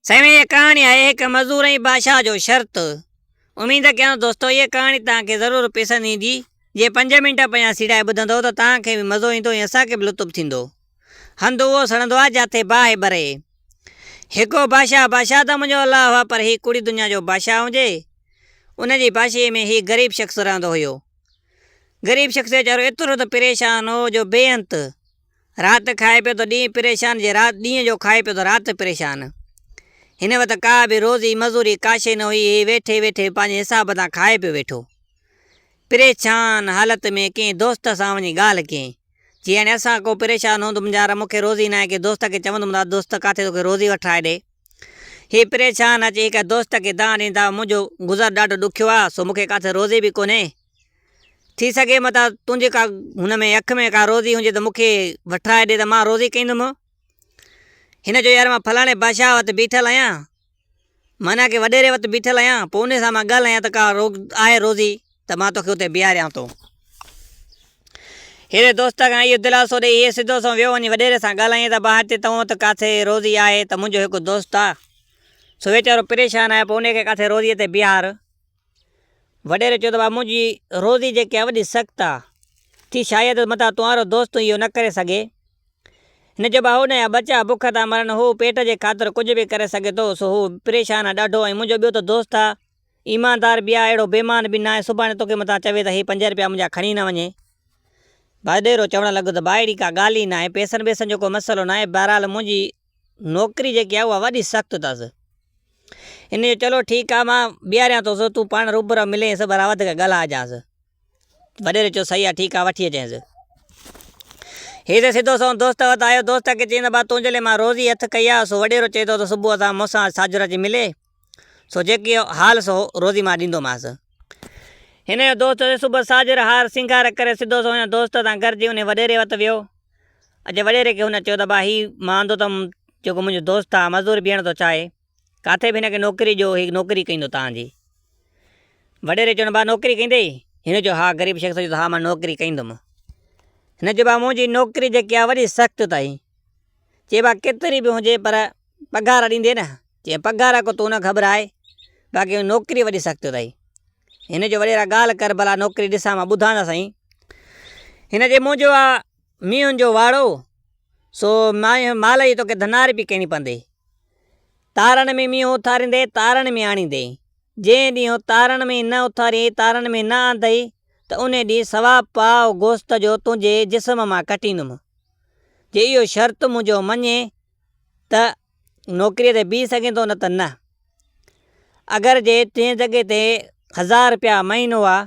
سائين هيء ڪهاڻي آهي هڪ مزور ۽ بادشاهه جو شرط. اميد ڪيان ٿو دوستو هيء ڪهاڻي توهان کي ضرور پسند ايندي. جي پنج منٽ پڃا سيڙائي ٻڌندؤ ته توهان کي به مزو ايندو ۽ اسان کي به لطف ٿيندو. هنڌ اهو سڙندو آهي جاتي باهه ٻري. هڪو بادشاهه بادشاهه ته منهنجو الله هئا پر هي ڪوڙي دنيا جو بادشاهه هجي. ان جي بادشاهي ۾ هي غريب شخص رهندو هيو. غريب شخص ويچارو ايترو ته پريشان هو جو بي انت. رات کائي پيو ته ڏينهن پريشان جي رات ڏينهن جو کائي پيو ته رات پريشان. هن وٽ ڪا به روزي مزوري ڪاشي نه هئي هي ويٺي ويٺي پنهنجي حساب تان کائي پيو ويٺو. پريشان حالت ۾ ڪنهن دوست سان وڃي ڳالهه ڪيائين. چيائين اسان ڪو پريشان هوندم يار مون کي روزي ناهي ڪنهن دوست کي چوندم ته دوست ڪاٿي توکي روزي وٺرائي ڏي. هي پريشان اچي هڪ دوست کي دانهن ڏني ته منهنجو گذر ڏاڍو ڏکيو آهي سو مون کي ڪاٿي روزي به ڪونهي. ٿي سگھي متان تنھنجي ڪا ھن ۾ اک ۾ ڪا روزي ھجي تھ مون کي وٺرائي ڏي تھ مان روزي ڪندم. ھن چيو، يار مان فلاڻي بادشاھھ وٽ بيٺل آھيان، معنيٰ ڪنھن وڏيري وٽ بيٺل آھيان، پوء انھيء سان مان ڳالھايان تھ ڪا آھي روزي تھ مان توکي اتي بيھاريان ٿو. ھيري دوست کان اھو دلاسو ڏيئي ھيء سڌو سنئون ويو وڃي وڏيري سان ڳالھائي تھ بھار تي تنھن وٽ ڪاٿي روزي آھي تھ منھنجو ھڪ دوست آھي، سو ويچارو پريشان آھي، پوء انھيء کي ڪاٿي روزيء تي بيھار. وڏيري چيو ته بابا منهنجي روزي جيڪي آهي وڏي سخت آهي. ٿي شايد متان توهانرو دوست تون اهو نه ڪري سگهي. هن چيو بابا هو نه يا ٻچا بک ٿا مرن هو پيٽ جي خاطر ڪجهه به ڪري سگهي ٿو سو هو پريشان آهي ڏاڍو ۽ منهنجو ٻيو ته دوست آهي ايماندار به آهي اهڙو بيمان به نه آهي سڀاڻي توکي متان چوي ته هي پنج رپيا منهنجا کڻي نه وڃي. وڏيرو چوڻ لڳو ته بابا اهڙي ڪا ڳالهه ئي نه آهي پيسن بيسن جو ڪو مسئلو نه آهي بهرحال منهنجي نوڪري جيڪي آهي اها وڏي سخت اٿس، انهي چيو چلو ٺيڪ آهي مان بيهاريان ٿو سو تون پاڻ روبرو ملي ۽ سڀرا وڌيڪ ڳالهائجانس، وڏيري چيو صحيح آهي ٺيڪ آهي وٺي اچينس. هي ته سڌو سنئون دوست وٽ آيو، دوست کي چئي ته ڀاء تنهنجي لاء مان روز ئي هٿ ڪئي آهي، سو وڏيرو چئي ٿو ته صبح اسان مون سان ساجھرو اچي ملي. سو جيڪي حال سو روزي مان ڏيندو مانس۔ ھن جو دوست ھتي صبح ساجھر ھار سينگار ڪري سڌو سو ھن دوست سان گڏجي انھي وڏيري وٽ ويو ۽ وڏيري کي ھن چيو تھ ڀاء ھي مان اندو تھ جيڪو منھنجو دوست آ مزوري بيھڻ ٿو چاھي ڪاٿي بھ ھن کي نوڪري ڏيو ھي نوڪري ڪيندو تنھن جي وڏيري چيو بابا نوڪري ڪيندي ھن چيو ھا غريب شخص چيو ھا مان نوڪري ڪيندم ھن چيو بابا منھنجي نوڪري جيڪي آ وڏي سخت تھ ھي چي بابا ڪيتري بھ ھجي پر پگھار ڏيندي نه، چئي پگھار ڪو تون نه گھٻرائي، باقي نوڪري وڏي سخت اٿئي، ھن چيو وڏيرا ڳالھ ڪر ڀلا نوڪري ڏسان مان ٻڌان ته سھين، ھن چيو منھنجو آ مينھن جو واڙو سو مال جي توکي ڌنار به ڪرڻي پوندي، تارڙ ۾ مينھن اٿاريندي تارڙ ۾ آڻيندي، جنھن ڏينھن تارڙ ۾ نه اٿارين تارڙ ۾ نه آندئي ته انھي ڏينھن سوا پاء گوشت جو تنھنجي جسم مان ڪٽيندم، جي اھو شرط منھنجو مڃين ته نوڪري تي بيهي سگهين ٿو نه ته نه. اگر جي تنهنجي جڳهه تي هزار رپيا مهينو آ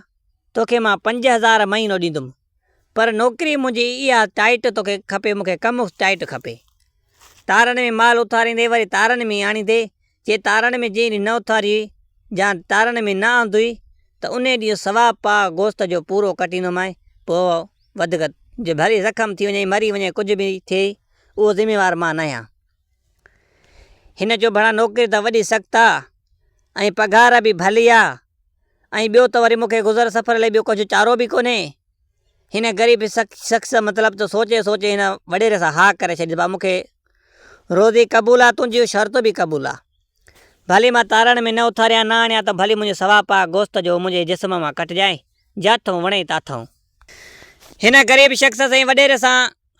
توکي مان پنج هزار مهينو ڏيندم پر نوڪري منهنجي اها ٽائيٽ توکي کپي مون کي ڪم ٽائيٽ کپي. تارن ۾ مال اٿاريندي وري تارن ۾ آڻيندي جي تارڻ ۾ جيئن ئي نه اٿاريئي يا تارڻ ۾ نه آندئي ته انهي ڏينهن سوا پاء گوشت جو پورو ڪٽيندومانء پوء ودڪ جي ڀري زخم ٿي وڃي مري وڃي ڪجهه به ٿئي اهو ذميوار مان ناهيان. هن چيو ڀلا نوڪري ته وڏي سخت آ ۽ پگهار به ڀلي آ ۽ ٻيو ته وري مون کي گذر سفر لئي ٻيو ڪجهه چارو به ڪونهي هن غريب شخص مطلب جو سوچي سوچي هن وڏيري سان ها ڪري ڇڏي ڀا مون کي روزي قبول آ تنهنجيون شرطون به قبول آ ڀلي مان تارڻ ۾ نه اٿاريان نه آڻيان ته ڀلي منهنجي سوا پاء گوشت جو منهنجي جسم مان ڪٽجانء جاٿئون وڻئي تاٿئون. هن غريب شخص سائين وڏيري سان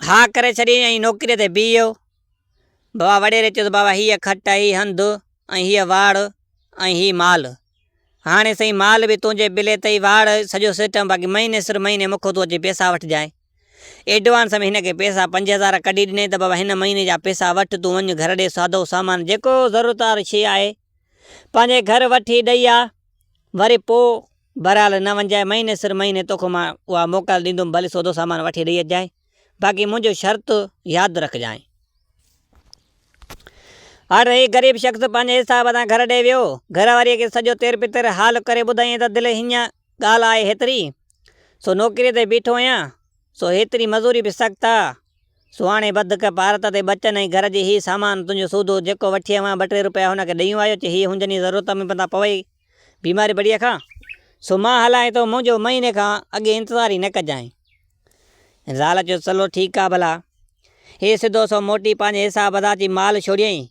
ها ڪري ڇڏي ۽ نوڪري تي بيهيو. ڀا وڏيري چيس بابا هيء کٽ هي هنڌ ۽ هيء واڙ ۽ هي مال ہاڻي سائين مال به تنهنجي بلي تئي واڙ سڄو سسٽم باقي مهيني سر مهيني مون کان تون اچي پئسا وٺجانء. ايڊوانس ۾ هن کي پئسا پنج هزار ڪڍي ڏنائين ته بابا هن مهيني جا پئسا وٺ تون وڃ گهر ڏي سادو سامان جيڪو ضرورت واري شيء آهي پنهنجي گهر وٺي ڏئي آ وري پوء بهرحال نه وڃجانء مهيني سر مهيني توکان مان اها موڪل ڏيندوم ڀلي سودو سامان وٺي ڏئي اچجانء. باقي منهنجو شرط ياد رکجانء. هر هڪ غريب شخص پنهنجي حساب سان گهر ڏي ويو. گهر واريء کي سڄو تير پتير حال ڪري ٻڌايائين ته دل هينئن ڳالهه آهي هيتري سو نوڪريء تي بيٺو آهيان، سو هيتري مزوري به سخت آ، سو هاڻي ٻڌ ڪه پارت تي ٻچن ۽ گهر جي هي سامان تنهنجو سودو جيڪو وٺيئي هئان ٻه ٽي روپيا هن کي ڏيون آيو چي هي هنجن ئي ضرورت ۾ پندا پوئي. بيماري بڙيء کان سو مان هلانء ٿو، منهنجو مهيني کان اڳي انتظار ئي نه ڪجانء. زال چيو، چلو ٺيڪ آ ڀلا. هي سڌو سنئون موٽي پنهنجي حساب ادا ٿي مال ڇوڙيائين.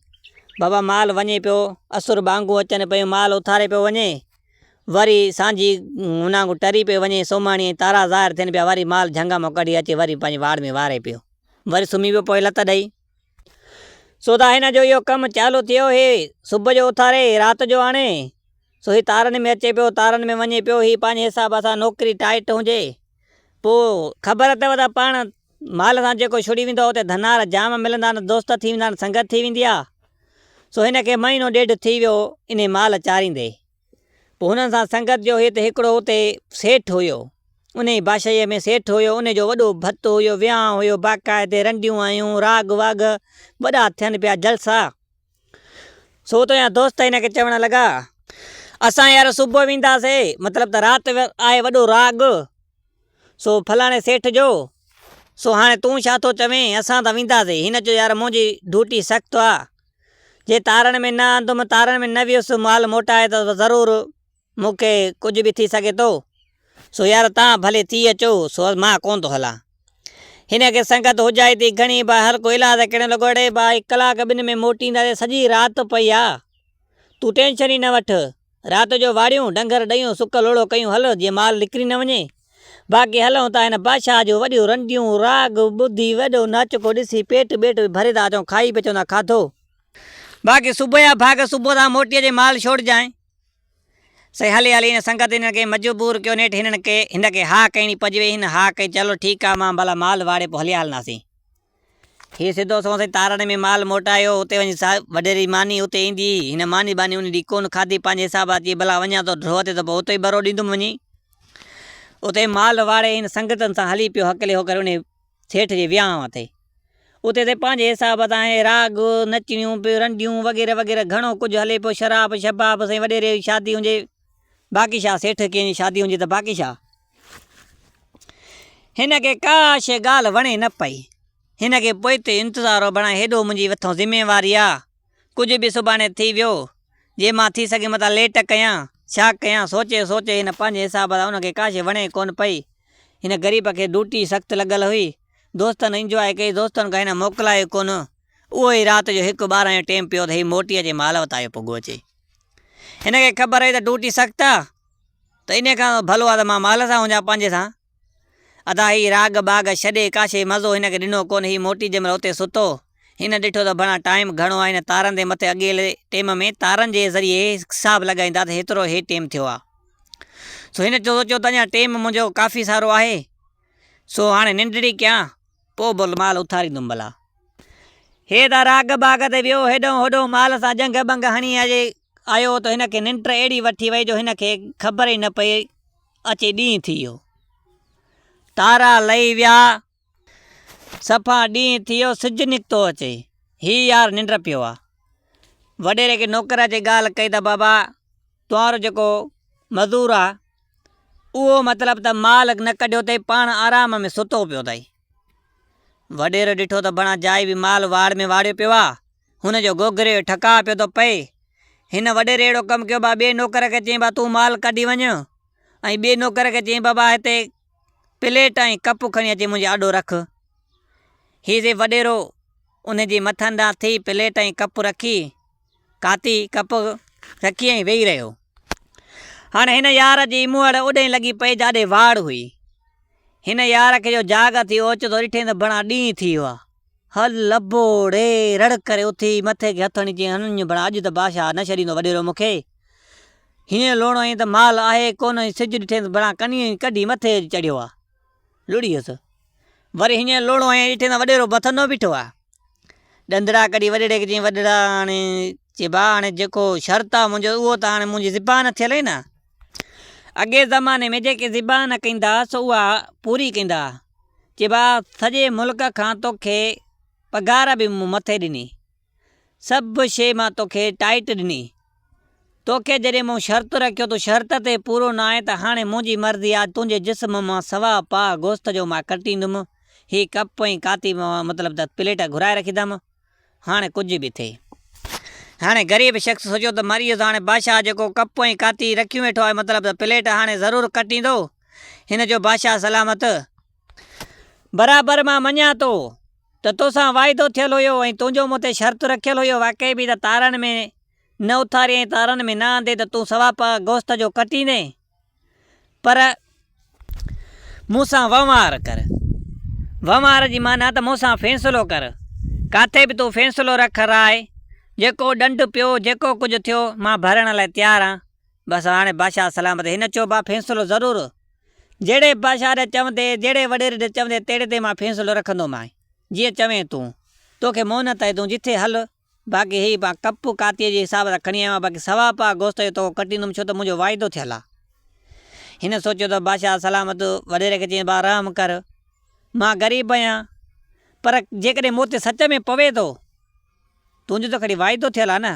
بابا مال وڃي پيو، اسر ٻانگون اچن پيون مال اٿاري پيو وڃي، وري سانجهي هن آنگو ٽري پيو وڃي، سومهاڻي ۽ تارا ظاهر ٿين پيا وري مال جهنگ مان ڪڍي اچي وري پنهنجي واڙ ۾ واري پيو، وري سمهي پيو پوء لت ڏئي. سو ته هن جو اهو ڪم چالو ٿيو هي صبح جو اٿاري رات جو آڻي سو هي تارن ۾ اچي پيو تارن ۾ وڃي پيو هي پنهنجي حساب سان نوڪري ٽائيٽ هجي پو خبر اٿو ته پاڻ مال سان جيڪو شڙي ويندو اتي ڌنار جام ملندا آهن دوست ٿي ويندا آهن سنگت ٿي ويندي آهي سو هن کي مهينو ڏيڍ ٿي ويو انهي مال چاريندي پوء هنن سان سنگت جو هيت هڪڙو اتي سيٺ هيو. انهيء باشيء ۾ سيٺ هيو، ان جو وڏو ڀت هيو، ويهان هيو، باقاعدي رنڊيون هيون، راڳ واڳ، وڏا ٿين پيا جلسا. سو اتان جا دوست هن کي چوڻ لڳا. اسان يار صبح وينداسين، مطلب ته رات آهي وڏو راڳ، سو فلاڻي سيٺ جو، سو هاڻي تون ڇا ٿو چوين، اسان ته وينداسين. هن چيو يار منهنجي ڊوٽي سخت آ، جي تارڻ ۾ نه آندم، تارڻ ۾ نه ويس، مال موٽائي ته ضرور مون کي ڪجهه به ٿي سگهي ٿو، سو يار تان ڀلي ٿي اچو، سو مان ڪونه ٿو هلان. هن کي سنگت هجائي ٿي گهڻي، با هر ڪو علاج ڪرڻ لڳو، اڙي ڀائي ڪلاڪ ٻن ۾ موٽينداسين، سڄي رات پئي آ، تون ٽينشن ئي نه وٺ. رات جو واڙيون، ڊنگر، ڏيون، سڪ لوڙهو ڪيون هل، جيئن مال نڪري نه وڃي. باقي هلئون ٿا هن بادشاهه جون وڏيون رنڊيون، راڳ، ٻڌي، وڏو ناچڪو ڏسي، پيٽ ٻيٽ به ڀري ٿا اچون، کائي به اچون ٿا کاڌو. باقي صبح جا ڀاڳ، صبح تان موٽي اچي مال ڇوڙجانء. سائين هلي هلي هن سنگت هنن کي مجبور ڪيو، نيٺ هنن ڪي هن کي هاء ڪئي ني پڄ وئي، هن هاء ڪئي چلو ٺيڪ آ، مان ڀلا مال واڙي پوء هليا هلنداسين. هيء سڌو سنئون سائين تارڙي ۾ مال موٽايو، اتي وڃي سا وڏيري ماني اتي ايندي هئي. هن ماني ٻاني ان ڏينهن ڪونه کاڌي، پنهنجي حساب سان چيائين ڀلا وڃان ٿو ڍوء تي ته پوء اتي ئي ڀرو ڏيندم وڃي. اتي مال واڙي هن سنگتن سان هلي پيو هڪلي هوڪري انهي سيٺ جي ويانهن تي. اتي سائين پنهنجي حساب سان هي راڳ، نچڻيون، رنڊيون وغيره وغيره گهڻو ڪجهه هلي پيو، شراب شباب سائين وڏيري جي شادي هجي، باقي شاهه سيٺ ڪنهن جي شادي هجي ته باقي شاهه هن کي ڪا شيء ڳالهه وڻي نه پئي. هن کي پوئتي انتظارو بڻائي هيڏو منهنجي مٿان ذميواري آ. ڪجهه به سڀاڻي ٿي ويو. جي مان ٿي سگهي متان ليٽ ڪيان، ڇا ڪيان، سوچي سوچي هن پنهنجي حساب سان ان کي ڪا شيء وڻي ڪونه پئي. هن غريب کي ڊوٽي سخت لڳل هئي. دوستن انجواء ڪئي، دوستن کان هن موڪلايو ڪونه. اهو ئي رات جو هڪ ٻارهن جو ٽيم پيو ته هي موٽي اچي مالوت آيو پڳو اچي. هن کي خبر هئي ته ڊوٽي سخت آ ته انهيء کان ڀلو آ ته مان مال سان هجان پنهنجي سان. ادا هي راڳ باڳ ڇڏي ڪاشي مزو هن کي ڏنو ڪونه. هي موٽي جنهن مهل اتي سٿو، هن ڏٺو ته ڀڻا ٽائيم گهڻو آ. هن تارن تي مٿي اڳيل ٽيم ۾ تارن جي ذريعي حساب لڳائيندا ته هيترو هي ٽيم ٿيو آ. سو هن سوچيو ته اڃا ٽيم منهنجو ڪافي سارو آهي. سو هاڻي ننڊڙي ڪيان. پوء بل مال اٿاريندم ڀلا. هيء ته راڳ باغ تي ويو، هيڏانهن هوڏانهن مال سان جنگهه بنگهه هڻي آيو هو ته هن کي ننڊ اهڙي وٺي وئي جو هن کي خبر ئي نه پئي اچي ڏينهن ٿي ويو. تارا لهي ويا. صفا ڏينهن ٿي ويو، سج نڪتو اچي. هيء يار ننڊ پيو آ. وڏيري کي نوڪر اچي ڳالهه ڪئي ته بابا توهانرو جيڪو مزور آ اهو مطلب ته مال نه ڪڍيو تئي پاڻ آرام ۾ ستو پيو تئي. وڏيري ڏٺو ته بڻا جائي به مال واڙ ۾ واڙيو پيو آ، هن جو گوگري جو ٺڪاء پيو ٿو پئي. هن وڏيري اهڙو ڪم ڪيو با ٻئي نوڪر کي چيائين با تون مال ڪڍي وڃ ۽ ٻئي نوڪر کي چيائين بابا هتي پليٽ ۽ ڪپ کڻي اچي منهنجي آڏو رک. هي سي وڏيرو ان جي مٿن ڏانهن ٿي پليٽ ۽ ڪپ رکي. کاتي ڪپ رکي ۽ ويهي رهيو. هاڻ هن يار جي موهڙ اوڏهين لڳي پئي جاڏي واڙ هئي. هن يار کي جو جاڳ اٿي اوچتو ڏٺئين ته بڻا ڏينهن ٿي ويو آ. هل لبو ڙي رڙ ڪري اٿي مٿي کي هٿ هڻي چيائين هنڃ بڻا اڄ ته بادشاهه نه ڇڏيندو وڏيرو مون کي. هينئن لوڻو هينئن ته مال آهي ڪونه سج ڏٺئين ته بڻا ڪنيون ئي ڪڍي مٿي چڙهيو آ. لڙي ويس. وري هينئن لوڙهو هنيائين، ڏٺي ته وڏيرو بٿندو بيٺو آ. ڏندڙا ڪڍي وڏيري کي چيائين، وڏيرا هاڻي چي ڀاء هاڻي جيڪو شرط آ منهنجو اهو ته هاڻي منهنجي زبان ٿيل هئي نا. اڳئين زماني ۾ جيڪي زبان ڪندا سو اها پوري ڪندا. چي ڀاء سڄي ملڪ کان توکي پگهار به مون مٿي ڏني. سڀ شيء مان توکي ٽائيٽ ڏني. توکي جڏهن مون شرط رکيو تون شرط تي پورو نه آئين ته هاڻي منهنجي مرضي آ تنهنجي جسم مان سوا پاء گوشت جو مان ڪٽيندم. هي ڪپ ۽ ڪاتي مطلب ته پليٽ گهرائي رکيندم. هاڻي ڪجهه به ٿئي. هاڻي غريب شخص سوچيو ته مريس هاڻي بادشاهه جيڪو ڪپ ۽ ڪاتي رکيون ويٺو آهي مطلب ته پليٽ هاڻي ضرور ڪٽيندو. هن چيو بادشاهه سلامت. برابر مان مڃان ٿو. ته توسان واعدو ٿيل هيو ۽ تنهنجو مون تي شرط رکيل هيو واقعي به ته تارن ۾ نه اٿارين ۽ تارن ۾ نه آندين ته تون سوا پاء گوشت جو ڪٽيندين پر مون سان وهنوار ڪر وهنوار جي معنيٰ ته مون سان فيصلو ڪر ڪاٿي به تون فيصلو رک راء جيڪو ڏنڊ پيو جيڪو ڪجهه ٿيو مان ڀرڻ لاء تيار آهيان. بس هاڻي بادشاهه سلامت هن چيو ڀا فيصلو ضرور جهڙي بادشاهه ري چوندي جهڙي وڏيري ري چوندي تهڙي تي مان فيصلو رکندومانء جيئن چوين تون توکي مهنت آهي تون جتي هل باقي هي مان ڪپ ڪاتيء جي حساب سان کڻي آيو آهيان باقي سوا پاء گوشت جو توکو ڪٽيندم ڇو ته منهنجو واعدو ٿيل آهي هن سوچيو ته بادشاهه سلامت وڏيري کي چيائين ڀا رحم ڪر مان غريب آهيان پر جيڪڏهن مون تي سچ ۾ پوي ٿو تنهنجو ته کڻي واعدو ٿيل آهي نه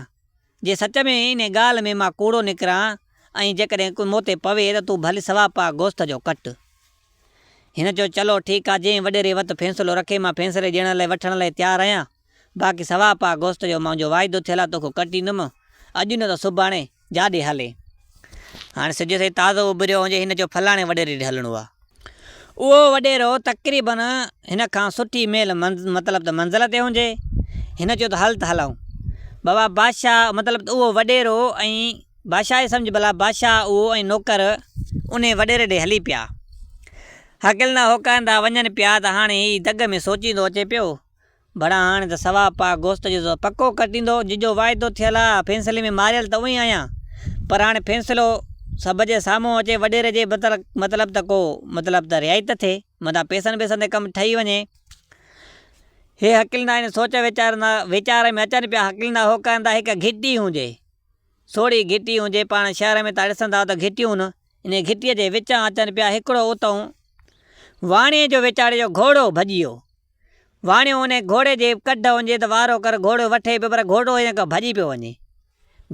جي سچ ۾ انهي ڳالهه ۾ مان ڪوڙو نڪران ۽ جيڪڏهن ڪو مون تي پوي ته تون ڀلي سوا پاء گوست جو ڪٽ. هن چيو چلو ٺيڪ آ جنهن وڏيري وت فيصلو رکي مان فيصلي ڏيڻ لئي وٺڻ لئي تيار آهيان باقي سوا پاء گوست جو منهنجو واعدو ٿيل آ توکو ڪٽيندم اڄ نه ته سڀاڻي جاڏي هلي. هاڻي سج سائين تازو اڀريو هجي هن چيو فلاڻي وڏيري ڏي هلڻو آ. اهو وڏيرو تقريبن هن کان سٺي ميل مطلب ته منزل تي هجي. هن چيو ته هل ته هلئون. بابا بادشاهه مطلب ته اهو وڏيرو ۽ بادشاهه ئي سمجهه ڀلا بادشاهه اهو ۽ نوڪر انهي وڏيري ڏي هلي پيا. هڪلندا هوڪاندا وڃن پيا ته هاڻي هي دڳ ۾ سوچيندو اچي پيو ڀڙا هاڻي ته ثواب پاڪ گوشت جو زو پڪو ڪٽيندو، ججو واعدو ٿيل ها، ڦينسلي ۾ ماريل ته اوهين آهيان، پر هاڻي ڦينسلو سڀ جي سامهون اچي، وڏيري جي مطلب ته ڪو مطلب ته رهائي ته ٿئي، متان پيسن بيسن تي ڪم ٺهي وڃي. هي هڪلندا آهن، سوچ ويچارندا، ويچار ۾ اچن پيا، هڪلندا هوڪائندا، هڪ گهٽي هوندي، سوڙهي گهٽي هوندي، پاڻ شهر ۾ تان ڏسنداو ته گهٽيون نه، انهيء گهٽيء جي وچان اچن پيا، هڪڙو اتئون واڻيي جو ويچاري جو گهوڙو ڀڄيو. واڻيو انهيء گهوڙي جي ڪڍ هجي ته وارو ڪر گهوڙو وٺي پيو پر گهوڙو هيئن ڪيو ڀڄي پيو وڃي.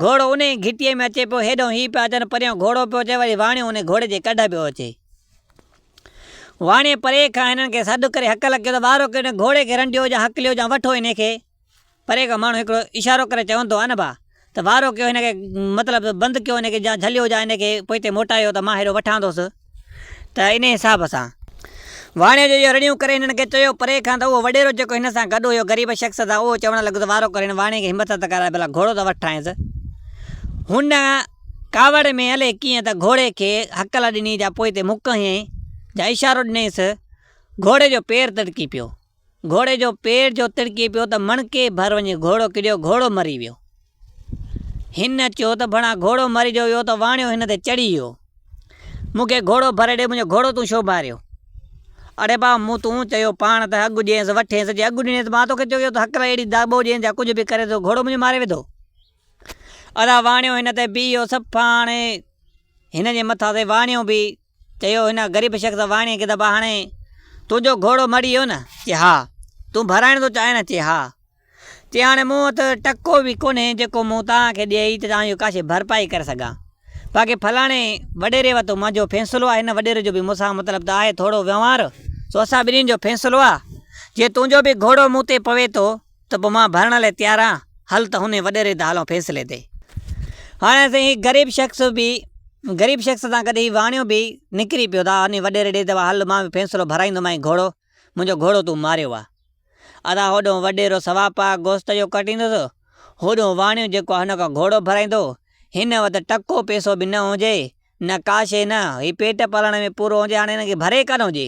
گهوڙو انهيء ئي گهٽيء ۾ اچي پيو، هيڏانهن هي پيا اچن، پريان گهوڙو پيو اچي، وري واڻيو انهيء گهوڙي جي ڪڍ پيو اچي. واڻيي پري کان هنن کي سڏ ڪري هڪل ڪيو ته وارو ڪريو انهيء گهوڙي کي رنڊيو جا هڪليو جا وٺو انهيء کي. پري کان ماڻھو ھڪڙو اشارو ڪري چون تھ ان بھا تھ وارو ڪيو ھن کي مطلب تھ بند ڪيو ھن کي يا جھليو يا ھن کي پوئتي موٽايو تھ مان ھيڏو وٺاندوس تھ انھيء حساب سان واڻيو جو اھو رڙيون ڪري ھنن کي چيو پري کان تھ اھو وڏيرو جيڪو ھن سان گڏ ھيو غريب شخص تھ اھو چوڻ لڳو تھ وارو ڪر ھن واڻي کي ھمت تھ ڪراء ڀلا گھوڙو تھ وٺرائينس ھن ڪاوڙ ۾ الئي ڪيئن تھ گھوڙي کي ھڪل ڏني جا پوئتي مھڪ ھنئين جا اشارو ڏنيس گھوڙي جو پير ترڪي پيو. گهوڙي جو پير جو تڙڪي پيو ته مڻڪي ڀر وڃي گهوڙو ڪڏيو، گهوڙو مري ويو. هن چيو ته ڀڻا گهوڙو مري جو ويو ته واڻيو هن تي چڙهي ويو. مون کي گهوڙو ڀري ڏي، منهنجو گهوڙو تون ڇو ماريو؟ اڙي ڀاء مون تون چيو پاڻ ته اڳ ڏينس وٺينس، جي اڳ ڏنيس مان توکي چيو ته هڪ لاء اهڙي داٻو ڏينس يا ڪجهه به ڪرينس جو گهوڙو منهنجو ماري وڌو. ادا واڻيو هن تي بيهي ويو سڀ پاڻ هن جي مٿان تي واڻيو به چيو هن غريب شخص واڻيء کي ته ٻهاڻي تنهنجو گهوڙو مڙي ويو نه؟ چي ها. تون ڀرائڻ ٿو چاهين نه؟ چي ها. چي هاڻي مون وٽ ٽڪو به ڪونهي جيڪو مون توهان کي ڏئي ته توهان جي ڪاشي ڀرپائي ڪري سگهان. باقي فلاڻي وڏيري وتو منهنجو فيصلو آهي هن وڏيري جو به مون سان مطلب ته آهي ٿورو وهنوار سو اسان ٻنهين جو فيصلو آهي جي تنهنجو به گهوڙو مون تي پوي ٿو ته پوء مان ڀرڻ لاء تيار آهيان، هل ته هن وڏي ريت هلون فيصلي تي. هاڻي سائين هي غريب شخص به غريب شخص سان گڏ هي واڻيو به نڪري پيو ته هن وڏيري ڏي ته هل مان به فيصلو ڀرائيندومانء گهوڙو منهنجو گهوڙو تون ماريو آهي. ادا هوڏهون وڏيرو سوا پاء گوشت جو ڪٽيندس، هوڏهون واڻيو جيڪو آهي ان کان گهوڙو ڀرائيندو، هن وٽ ٽڪو پئسو به نه هجي، نه ڪا شيء نه هي پيٽ پالڻ ۾ پورو هجي هاڻي هن کي ڀري ڪانه هجي.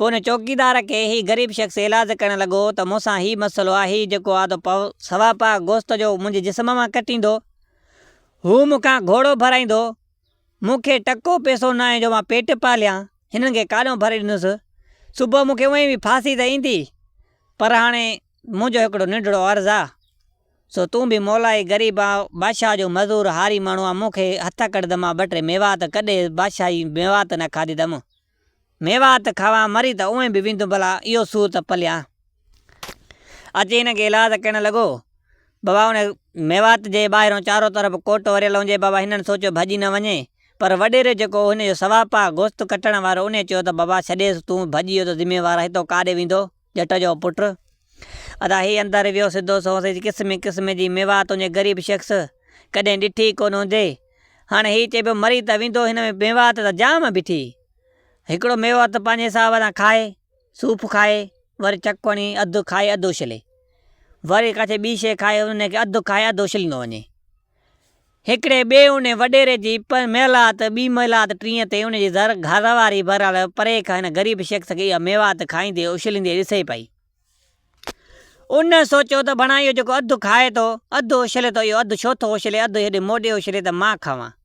پوء ان چوڪيدار کي هي غريب شخص ايلاز ڪرڻ لڳو ته مون سان هي مسئلو آهي هي جيڪو آڌو پاء سوا پاء گوشت جو منهنجي جسم مان ڪٽيندو، هو مون کان گهوڙو ڀرائيندو، مون کي ٽڪو پئسو ناهي جو مان پيٽ پاليان، هنن کي ڪاڏهون ڀري ڏيندس، صبح مون کي اونئين به ڦاسي ته ايندي، پر هاڻي منهنجو هڪڙو ننڍڙو عرض آ، سو تون به مولائي غريب آ، بادشاهه جو مزور هاري ماڻهو آ، مون کي هٿڪڙد مان ٻه ٽي ميوا ته ڪڏهه بادشاهي ميوا ته نه کاڌي ته مون ميوات کاوان مري ته اوئين به ويندم ڀلا اهو سور ته پليان اچي هن کي ايلاز ڪرڻ لڳو. بابا ان ميوات جي ٻاهرون چارو طرف ڪوٽ وريل هونجي بابا هنن سوچيو ڀڄي نه وڃي پر وڏيري جيڪو هو هن جو سواپاهه گوشت ڪٽڻ وارو انهي چيو ته بابا ڇڏيس تون ڀڄي ويو ته ذميوار هتو ڪاڏي ويندو. ڄٽ جو پٽ ادا هي اندر ويو سڌو سنئون سئي قسمي قسمي جي ميوا تنهنجي غريب شخص ڪڏهن ڏٺي ئي ڪونه هوندي هاڻي هي چئي پيو مري ته ويندو هن ۾ ميوا ته جام بيٺي هڪڙو ميوا ته پنهنجي حساب سان کائي سوڦ کائي وري چڪوڻي اڌ کائي اڌ اڇلي وري ڪا ٿي ٻي شئي کائي ان کي اڌ کائي اڌ اڇليندو وڃي. هڪڙي ٻئي ان وڏيري جي ميلات، ٻي ميلات ٽينء تي ان جي زر گهر واري بهرحال پري کان هن غريب شخص کي اها ميوات کائيندي اڇليندي ڏسي پئي. ان سوچيو ته ڀڻا اهو جيڪو اڌ کائي ٿو، اڌ اڇلي ٿو اهو اڌ ڇو ٿو اڇلي، اڌ هيڏي موڏي اڇلي ته مان کاوان.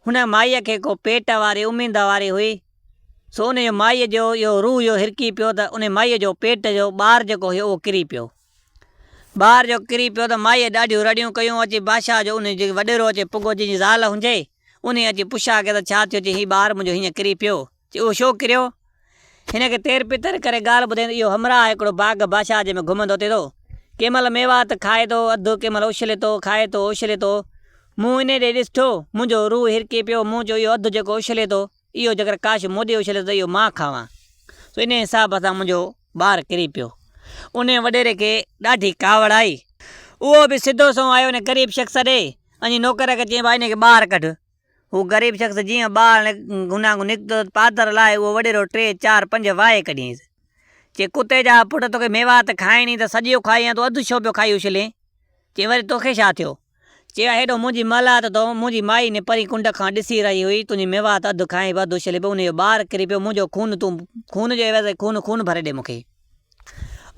هن مائيء کي ڪو پيٽ واري اميد واري هئي، سو ان جو مائيء جو اهو روح جو هرڪي پيو ته ان مائيء جو پيٽ جو ٻار جيڪو هيو اهو ڪري پيو. ٻار جو ڪري پيو ته مائيء ڏاڍيون رڙيون ڪيون اچي بادشاهه جو انهي جيڪي وڏيرو اچي پڳو جنهن جي زال هنجي انهي اچي پڇا ڪئي ته ڇا ٿيو چي هي ٻار منهنجو هينئن ڪري پيو چي اهو شو ڪريو هن کي تير پتر ڪري ڳالهه ٻڌائين ته اهو همراهه آهي هڪڙو باغ بادشاهه جي ۾ گهمندو ٿي ٿو ڪنهن مهل ميوات کائي ٿو اڌ ڪنهن مهل اڇلي ٿو کائي ٿو اڇلي ٿو مون انهي ڏي ڏسٺو منهنجو روح هرڪي پيو مون چيو اهو اڌ جيڪو اڇلي ٿو اهو جيڪر ڪاش مون ڏي اڇليو ته اهو مان کاوان، سو انهيء حساب سان منهنجو ٻار ڪري پيو. انهيء وڏيري کي ڏاڍي ڪاوڙ آئي. اهو به سڌو سنئون آيو ان غريب شخص ڏي ۽ نوڪر کي چيائين، ڀاء انهيء کي ٻاهر ڪڍ. هو غريب شخص جيئن ٻاهر هنانگون نڪتو ته پادر لاهي اهو وڏيرو ٽي چار پنج وائي ڪڍيائينس. چيائين، ڪتي جا پٽ توکي ميوات کائڻي ته سڄيو کائي يا تون اڌ ڇو پيو کائي اڇلين؟ چيائين، وري توکي ڇا ٿيو؟ چيو، هيڏو منهنجي ملهه ته تون منهنجي مائي ني پرين ڪنڊ کان ڏسي رهي هئي، تنهنجي ميوات اڌ کانئن به اڌ اڇلي پيو، انهيء جو ٻار ڪري پيو، منهنجو خون تون خون جو عيوض ۽ خون خون ڀري ڏي مون کي.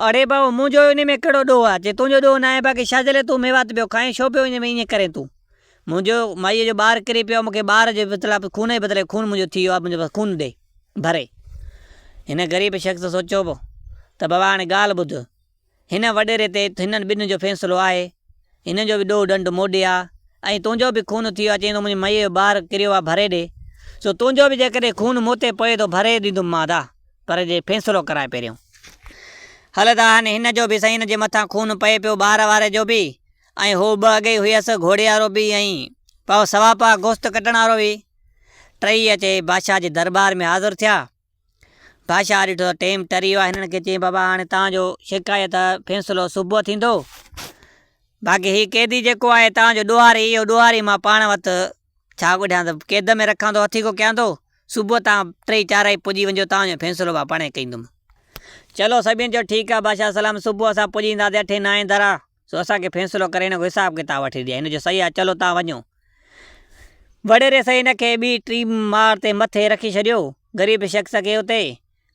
اڙي ڀائو، منهنجو انهيء ۾ ڪهڙو ڏوهه آ، چي تنهنجو ڏوهه ناهي، باقي شازيلي تون ميوات پيو کائين، ڇو پيو ائين ائين ڪرين تون، منهنجو مائيء جو ٻار ڪري پيو آ، مون کي ٻار جي بدلا خون جي بدلي خون منهنجو ٿي ويو آ، منهنجو بس خون ڏي، ڀري. هن غريب شخص سوچيو ته بابا هاڻي ڳالهه ٻڌ، هن وڏيري تي هنن ٻنهين جو فيصلو آهي. هن جو به ڏوهه ڏنڊ موڏي آ ۽ تنهنجو به خون ٿيو آ، چيائين ته منهنجي مئيء جو ٻار ڪريو آ ڀري ڏي، سو تنهنجو به جيڪڏهن خون مون تي پوي ٿو ڀري ڏيندم مان ادا، پر جي فيصلو ڪرانء پهريون. هل ادا هن هن جو به سائين هن جي مٿان خون پئي پيو ٻار واري جو به ۽ هو ٻه اڳيئي هيس گهوڙي وارو به ۽ پاء سوا پاء گوشت ڪٽڻ وارو به. ٽئي اچي بادشاهه جي درٻار ۾ حاضر ٿيا. بادشاهه ڏٺو ته ٽيم ٽري ويو آهي، هنن کي چيائين بابا هاڻي توهان جو شڪايت جو فيصلو صبح ٿيندو، باقي هي قيدي جيڪو آهي توهان جو ڏوهاري اهو ڏوهاري مان پاڻ وٽ ڇا ڪڍيان ته قيد ۾ رکان ٿو هٿيڪو ڪيان ٿو، صبح توهان ٽئي چارئي پڄي وڃجو توهان جو فيصلو مان پاڻهي ڪندم. چلو سڀيئن چيو ٺيڪ آهي بادشاهه سلام صبح اسان پڄي اينداسين اٺين نائين درا. سو اسان کي فيصلو ڪري هن جو حساب ڪتاب وٺي ڏي هن جو سهي آ چلو تان وڃو. وڏيري سهي هن کي ٻي ٽي ماڙ تي مٿي رکي ڇڏيو. غريب شخص کي اتي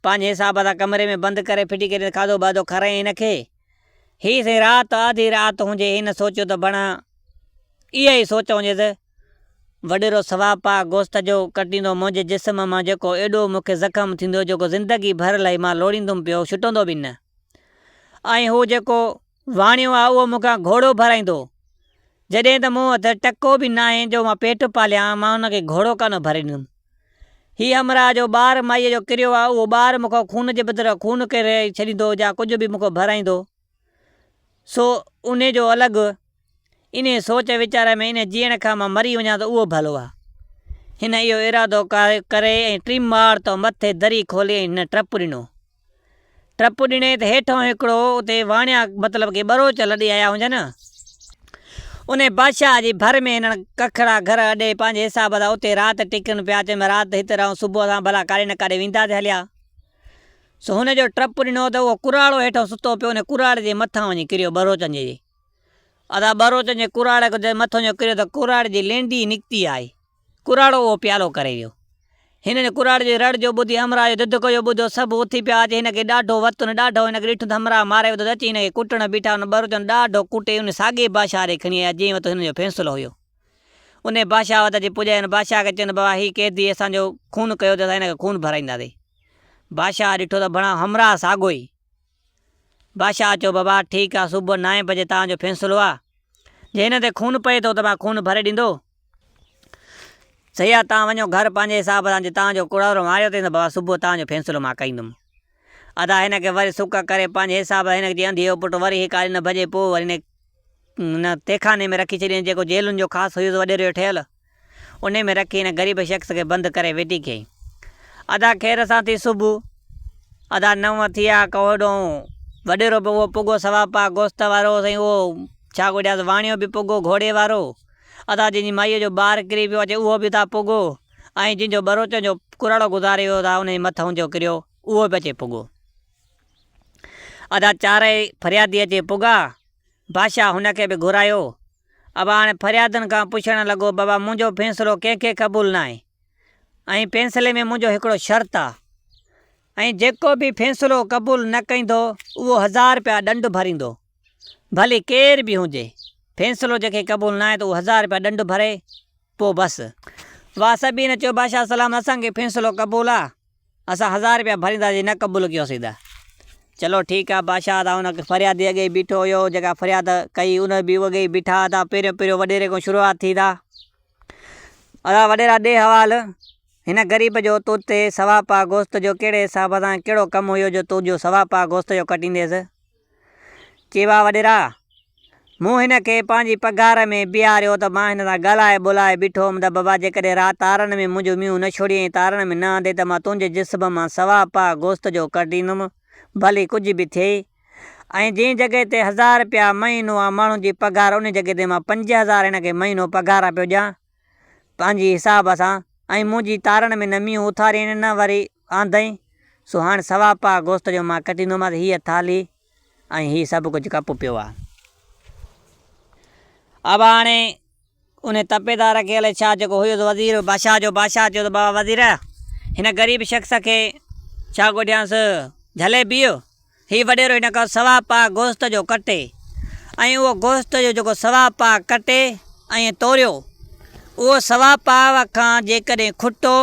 پنهنجي حساب سان ڪمري ۾ بند ڪري ڦٽي ڪري ته کاڌو باڌو کارائين هن کي. هي سهي رات آڌي رات هجي هن سوچيو ته بڻ اها ئي سوچ هجيس وڏيرو سوا پاء گوشت جو ڪٽيندو منهنجي جسم مان جيڪو ايڏو مون کي زخم ٿيندو جيڪو زندگي ڀر لئي مان لوڙيندم پيو ڇٽندو به نه ۽ هو جيڪو واڻيو آ اهو مون کان گهوڙو ڀرائيندو، جڏهن ته مون هٿ ٽڪو به ناهي جو مان پيٽ پاليان، مان ان کي گهوڙو ڪانه ڀريندم. هي همراهه جو ٻار مائيء جو ڪريو آ، اهو ٻار مون کان خون جي بدران خون ڪري ڇڏيندو يا ڪجهه به مون کان ڀرائيندو، سو انهي جو الڳ، انهيء سوچ ويچار ۾ انهي جيئڻ کان مان مري وڃان ته اهو ڀلو آ. هن اهو ارادو ڪري ۽ ٽيم ماڙ تان مٿي دري کولي ۽ هن ٽپ ڏنو. ٽپ ڏني ته هيٺئون هڪڙو اتي واڻيا مطلب ڪي ٻروچ لڏي آيا هجن. انهي بادشاهه جي ڀر ۾ هنن ڪکڙا گهر اڏي پنهنجي حساب سان اتي رات ٽڪن پيا چيم رات هت رهون صبح اسان ڀلا ڪاڏي نه ڪاڏي وينداسين هليا. سو هن جو ٽپ ڏنو ته اهو ڪراڙو هيٺئون ستو پيو انهي ڪراڙي جي مٿان وڃي ڪريو ٻروچن جي جي ادا ٻروچن جي ڪراڙي جي مٿئون جو ڪريو ته ڪراڙي جي لينڊي نڪتي آئي. ڪراڙو اهو پيالو ڪري ويو. هن ان ڪراڙي جي رڙ جو ٻڌي همراهه جو دڌڪو جو ٻڌو سڀ اٿي پيا اچي هن کي ڏاڍو وتن ڏاڍو هن کي ڏٺون ته همراهه ماري وڌو ته اچي هن کي ڪٽڻ بيٺا ان ٻروچن ڏاڍو ڪٽي ان ساڳي بادشاهه ڏي کڻي آيا جنهن وٽ هن جو فيصلو هيو ان بادشاهه وٽ اچي پڄايا ان بادشاهه کي چيون ته بابا هي قيدي اسان جو خون ڪيو ته اسان هن کي خون ڀرائينداسين بادشاهه ڏٺو ته بڻا همراهه ساڳو ئي. بادشاهه چيو، بابا، ٺيڪ آ، صبح نائين بجي توهان جو فيصلو آ. جي هن تي خون پئي ٿو ته مان خون ڀري ڏيندو. صحيح آ، توهان وڃو گهر پنهنجي حساب سان، جي توهان جو ڪڙارو ماريو اٿئي ته بابا صبح توهان جو فيصلو مان ڪندم. ادا هن کي وري سڪ ڪري پنهنجي حساب سان هن جي انڌيء جو پٽ وري هڪ آري نه ڀڄي پوء وري هن کي تهخاني ۾ رکي ڇڏيائين، جيڪو جيلن جو خاص هيوز وڏيرو هيو ٺهيل. انهي ۾ رکي هن غريب شخص کي بند ڪري ويٺي ڪيائين. ادا خير سان ٿي صبح. ادا نو ٿيا ڪو هيڏو وڏيرو به اهو پڳو سوا پاء گوشت وارو سائين اهو ڇا ڪو ڏيانس واڻيو به پڳو گهوڙي وارو. ادا جنهن جي مائيء جو ٻار ڪري ويو اچي اهو به ادا پڳو ۽ جنهن جو ٻروچن جو ڪراڙو گذاري ويو ادا انهي مٿئون جو ڪريو اهو به اچي پڳو. ادا چارئي فريادي اچي پڳا. بادشاهه هن کي به گهرايو. ابا هاڻي فريادن کان پڇڻ لڳو، بابا منهنجو فيصلو ڪنهن کي قبول ناهي ۽ فيصلي ۾ منهنجو هڪڙو شرط آ ۽ جيڪو به فيصلو قبول نه ڪندو اهو هزار رپيا ڏنڊ ڀريندو ڀلي ڪير به هجي فيصلو جنهن کي قبول ناهي ته اهو هزار رپيا ڏنڊ ڀري پوء بس. واء سڀينء چيو بادشاهه سلام اسان کي فيصلو قبول آ. اسان هزار روپيا ڀرينداسين نه قبول ڪيو سيد. چلو ٺيڪ آ بادشاهه تان ان فريادي اڳيئي بيٺو هيو جيڪا فرياد ڪئي ان به اڳيئي بيٺا هتا پهريون پهريون وڏيري کان شروعات ٿي ته ادا وڏيرا ڏي حوال هن غريب جو تون تي سوا پاء گوشت جو ڪهڙي حساب سان ڪهڙو ڪم هيو جو تون جو سوا پاء گوشت جو ڪٽينديس. چيوا وڏيرا! مون هن کي پنهنجي پگهار ۾ بيهاريو ته مان هن سان ڳالهائي ٻولهائي بيٺو هوم ته بابا جيڪڏهن رات تارن ۾ منهنجو مينهون نه ڇوڙيئي ۽ تارن ۾ نه آندئي ته مان تنهنجي جسم مان سوا پاء گوست جو ڪڍيندم ڀلي ڪجهه به ٿئي ۽ جنهن جڳهه تي هزار رپيا مهينو آ ماڻهن جي پگهار انهي جڳهه تي مان پنج هزار هن کي مهينو پگهار پيو ڏيان. پنهنجي حساب سان ۽ منهنجي تارڻ ۾ نمي اٿارين نه وري آندئين، سو هاڻ سوا پاء گوشت جو مان ڪٽيندومانس هيء ٿالهي ۽ هي سڀ ڪجهه ڪپ پيو آ. ابا هاڻي انهي تپي تان رکيل شاهه جيڪو هيس وزير بادشاهه جو، بادشاهه چيو ته بابا وزير هن غريب شخص کي ڇا ڳوٺيانس جهلي بيهه. هي وڏيرو ان کان سوا پاء گوشت جو ڪٽي ۽ اهو گوشت جو جيڪو سوا پاء ڪٽي ۽ توريو، اهو سوا پاء کان جيڪڏهن کٽو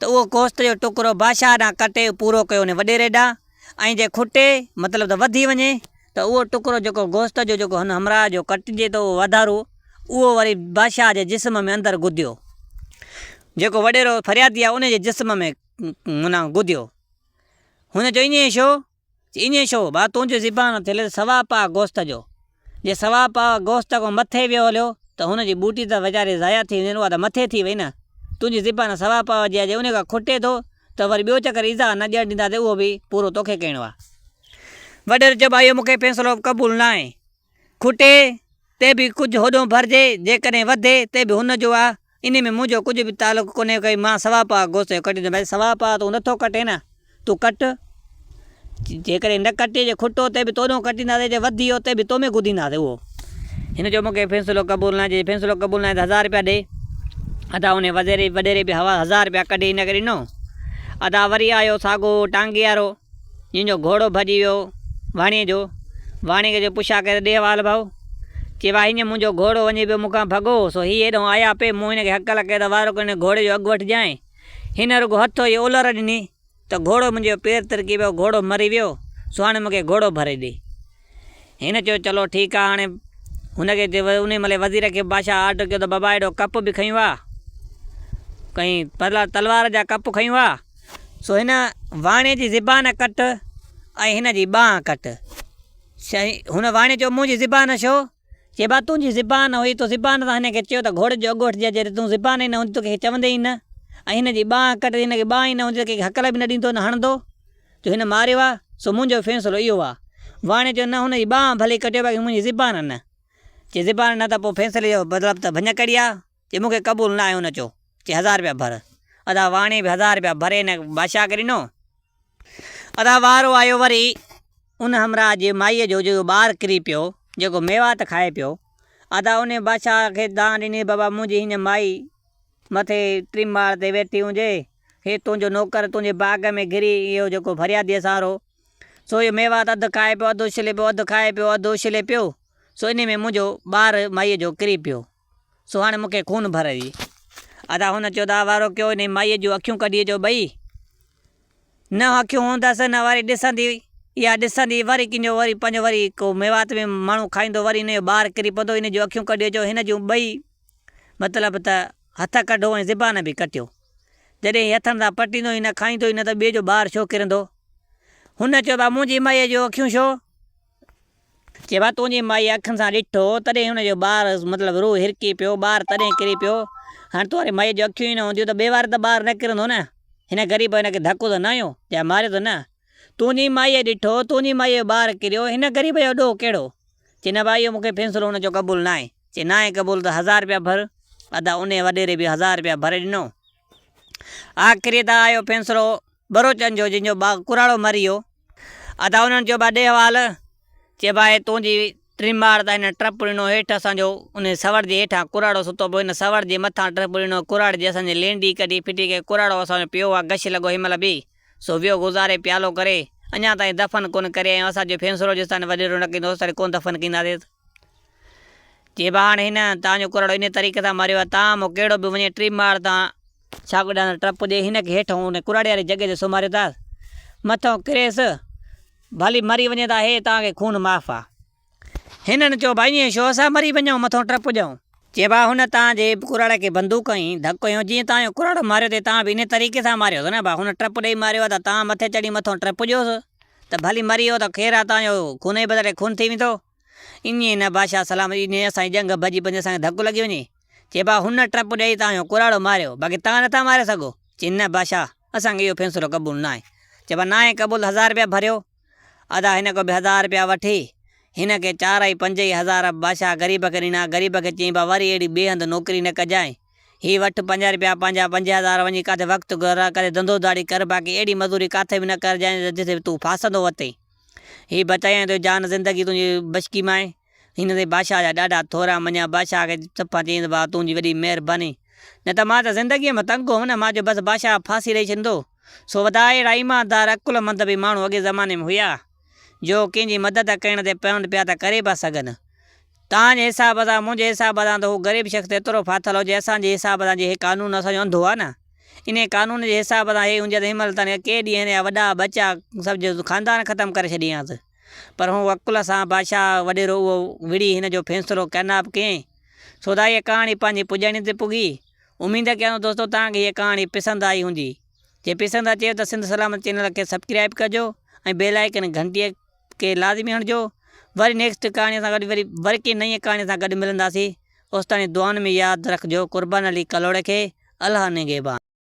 ته اهو گوشت جو ٽڪرو بادشاهه ڏانهن ڪٽي پورو ڪيو وڃي وڏيري ڏانهن ۽ جي کٽي مطلب ته وڌي وڃي ته اهو ٽڪرو جيڪو گوشت جو جيڪو هن همراهه جو ڪٽجي ٿو اهو واڌارو اهو وري بادشاهه جي جسم ۾ اندر گديو جيڪو وڏيرو فريادي آهي ان جي جسم ۾ معنيٰ گديو. ھن چيو ايئن شو؟ چي ايئن شو ڀا تنھنجي زبان تي لفظ سوا پاء گوست جو جي سوا پاء گوست کان مٿي ويو ھليو ته ھن جي ٻوٽي ته ويچاري ضايع ٿي ويندي اھا ته مٿي ٿي وئي نه تنھنجي زبان سوا پاء جي آ جي انھي کان کٽي ٿو ته وري ٻيو چڪر ايذاء نه ڏيڻ ڏينداسين اھو به پورو توکي ڪرڻو آ. وڏيري چيو ڀا اھو مونکي فيصلو قبول ناھي کٽي تي به ڪجهه هوڏو ڀرجي، جيڪڏهن وڌي تي به هن جو آ، انهي ۾ منهنجو ڪجهه به تعلق ڪونهي ڪي مان سوا پاء گوشت جو ڪٽيندو آهيان. سوا پاء تون نٿو ڪٽين ها، تون ڪٽ، جيڪڏهن نه ڪٽي جي کٽو تي به تو ڏانهن ڪٽينداسين، جي وڌي هو تي به تو ۾ گدينداسين اهو. هن چيو مونکي فيصلو قبول ناهي، جي فيصلو قبول ناهي ته هزار رپيا ڏي. ادا انهي وزيري وڏيري به هزار رپيا ڪڍي هن کي ڏنو. ادا وري آيو ساڳو ٽانگي وارو. جنهن جو گهوڙو ڀڄي ويو واڻيي جو، واڻيي جو پڇا ڪري ڏيهه وال ڀائو، چي واهه هينئن منهنجو گهوڙو وڃي پيو مون کان ڀڳو، سو هي هيڏهون آيا پئي، مون هن کي هڪ لکي ته وارو ڪرڻ گهوڙي جو اگهه وٺجانء، هن رڳو هٿو ئي اولر ڏني ته گهوڙو منهنجو پير ترڪي پيو، گهوڙو مري ويو، سو هاڻي مون کي گهوڙو ڀري ڏي. هن چيو چلو ٺيڪ آ هاڻي هن کي چيو انهي مهل وزير کي بادشاهه آرڊر ڪيو ته بابا هيڏو ڪپ به کنيو آ ڪئين پرلا تلوار جا ڪپ کنيو آ سو هن واڻي جي زبان ڪٽ ۽ هن جي ٻانهن ڪٽ سائين هن واڻي چيو منهنجي زبان ڇو چي با تون جي زبان هئي تو زبان سان هن کي چيو ته گهوڙي جو اڳوٺ جي جڏهن تون زبان ئي نه هوندي تو ڪنهن کي چوندين ئي نه ۽ هن جي ٻانهن ڪٽ جي هن کي ٻانهن ئي نه هوندي ته ڪنهن کي هڪل به نه ڏيندو نه هڻندو جو هن ماريو آ سو منهنجو فيصلو اهو آ واڻي چيو نه هن جي ٻانهن ڀلي ڪٽيو باقي منهنجي زبان نه چي زبان نه ته پوء فيصلي جو مطلب ته ڀڃڪڙي آ. جي مون کي قبول نه آهي ان چو چي هزار رپيا ڀر. ادا واڻي به هزار رپيا ڀري ان بادشاهه کي ڏنو. ادا وارو آيو وري ان همراهه جي مائيء جو جيڪو ٻار ڪري پيو جيڪو ميوات کائي پيو. ادا انهي بادشاهه کي دانهن ڏني بابا منهنجي هينئن مائي مٿي ٽين ماڙ تي ويٺي هجي هي تنهنجو نوڪر تنهنجي باغ ۾ گري اهو جيڪو فرياديء سهارو سو اهو ميوات اڌ کائي پيو اڌ اڇلي پيو اڌ کائي پيو اڌ اڇلي پيو سو انهي ۾ منهنجو ٻار مائيء جو ڪري پيو. سهاڻي مون کي خون ڀرئي ويئي. ادا هن چيو ته وارو ڪيو انهي مائيء جون اکيون ڪڍي جو ٻئي نه اکيون هوندس نه وري ڏسندي يا ڏسندي وري ڪنجو وري پنهنجو وري ڪو ميوات ۾ ماڻهو کائيندو وري انهي جو ٻار ڪري پوندو انهي جون اکيون ڪڍي جو هن جون ٻئي مطلب ته هٿ ڪڍو ۽ زبان به ڪٽيو جڏهن هي هٿن سان پٽيندو ئي نه کائيندو ئي نه ته ٻئي جو ٻار ڇو ڪرندو هن چيو ته منهنجي مائيء جون اکيون ڇو جيمهل تنهنجي مائيء اکين سان ڏٺو، تڏهن هن جو ٻار مطلب روح هرڪي پيو، ٻار تڏهن ڪري پيو. هاڻ تون واري مائيء جون اکيون ئي نه هونديون ته ٻئي واري ته ٻار نه ڪرندو نه. هن غريب هن کي ڌڪو ته نه هنيو يا ماريو ته نه. تنهنجي مائيء ڏٺو، تنهنجي مائيء جو ٻار ڪريو، هن غريب جو ڏوهه ڪهڙو؟ چي نه ڀاء اهو مون کي فيصلو هن جو قبول ناهي. چي ناهي قبول ته هزار رپيا ڀر. ادا انهيء وڏيري به هزار رپيا ڀري ڏنو. آخري ته آيو فيصلو. ٻروچن جو جن جو باغ ڪراڙو مري ويو. ادا انهن چيو با ڏيهه وال چي با هي تنهنجي ٽرماڙ تان هن ٽرپڙينو هيٺ اسان جو انهي سوڙ جي هيٺان ڪراڙو ستو پيو هن سوڙ جي مٿان ٽرپڙينو ڪراڙ جي اسان جي لينڊي ڪڍي ڦٽي ڪئي ڪراڙو اسان جو پيو آ گش لڳو هن مهل به سو ويو گذاري پيالو ڪري اڃان تائين دفن ڪونه ڪري آيون اسان جو فيصلو جيستائين وڏيرو نه ڪندو اوستائين ڪونه دفن ڪنداسين چي با هاڻي هن تان جو ڪراڙو انهي طريقي سان مريو آ تان مون ڪهڙو به وڃي ٽرماڙ تان ڇاڪو ڏاندڻ ٽپ پڄي هن کي هيٺ هون ڪراڙي واري جڳهه تي سمهاريو ٿا مٿئون ڪريس ڀلي مري وڃي ته هي توهان کي خون معاف آ هنن چيو ڀائي ائين ڇو اسان مري وڃون مٿئون ٽپ پڄون. چي ڀا هن توهان جي ڪراڙي کي بندوق ائين ڌڪ هنيو جيئن توهان جو ڪراڙو ماريو ٿي توهان به انهي طريقي سان ماريو ٿو نه ڀا هن ٽپ ڏئي ماريو آ ته توهان مٿي چڙهي مٿئون ٽپ پڄيوس ته ڀلي مري ويو ته خير آ توهان جو خون جي بدري خون ٿي ويندو. ايئن ئي نه بادشاهه سلامت ايئن ئي اسان جي ڄنگهه ڀڄي پوندي اسان کي ڌڪ لڳي وڃي. چئي ڀاء هن ٽپ ڏيئي توهان جو ڪراڙو ماريو باقي توهان نٿا ماري سگهو. چئي نه بادشاهه اسان کي اهو فيصلو قبول ناهي. چئي ڀاء ناهي قبول ته هزار رپيا ڀريو. ادا هن کان به هزار رپيا وٺي هن کي چار ۽ پنج ئي هزار بادشاهه غريب کي ڏنا. غريب کي چيائين ڀاء وري اهڙي ٻئي هنڌ نوڪري نه ڪجانء. هي وٺ پنج رپيا پنهنجا پنج هزار وڃي ڪاٿي وقت گذران ڪري ڌنڌو ڌاڙي ڪر باقي اهڙي مزوري ڪاٿي به نه ڪرجانء جتي تون ڦاسندو وتين. هي بچايائين تنهنجي جان زندگي تنهنجي بشڪي ماء. هن تي بادشاهه جا ڏاڍا ٿورا مڃيا، بادشاهه کي چپان چيائينس واهه تنهنجي وڏي مهرباني، نه ته مان ته زندگيء ۾ تنگ هوم نه، مان چيو بس بادشاهه ڦاسي ڏئي ڇڏيندو. سو وڌا اهڙا ايماندار عقلمند به ماڻهو اڳئين زماني ۾ هيا، جو ڪنهن جي مدد ڪرڻ تي پوند پيا ته ڪري به سگهن. تنهن جي حساب سان منهنجي حساب سان ته هو غريب شخص ته ايترو ڦاٿل هجي اسان جي حساب سان جي هي قانون اسان جو انڌو آ نه انهي قانون جي حساب سان هي هجي ته هن مهل تائين ڪئين ڏينهن هن جا وڏا ٻچا سڀ جو خاندان ختم ڪري ڇڏي هانس پر هن عقل سان بادشاهه وڏيرو اهو وڙهي هن جو فيصلو ڪيناب ڪئين سودا هيء ڪهاڻي پنهنجي پڄاڻي تي پڳي اميد ڪيان ٿو دوستو توهان کي هيء ڪهاڻي پسند آئي هوندي جي پسند اچيو ته سنڌ سلامت چينل کي سبڪرائب ڪجو ۽ بيل آئيڪن گهنٽيء کي لازمي هڻجو وري نيڪسٽ ڪهاڻي سان گڏ وري وري ڪنهن نئين ڪهاڻي سان گڏ ملنداسين اوستائين دعائن ۾ ياد رکجو قربان علي ڪلهوڙي کي الله نگهبان.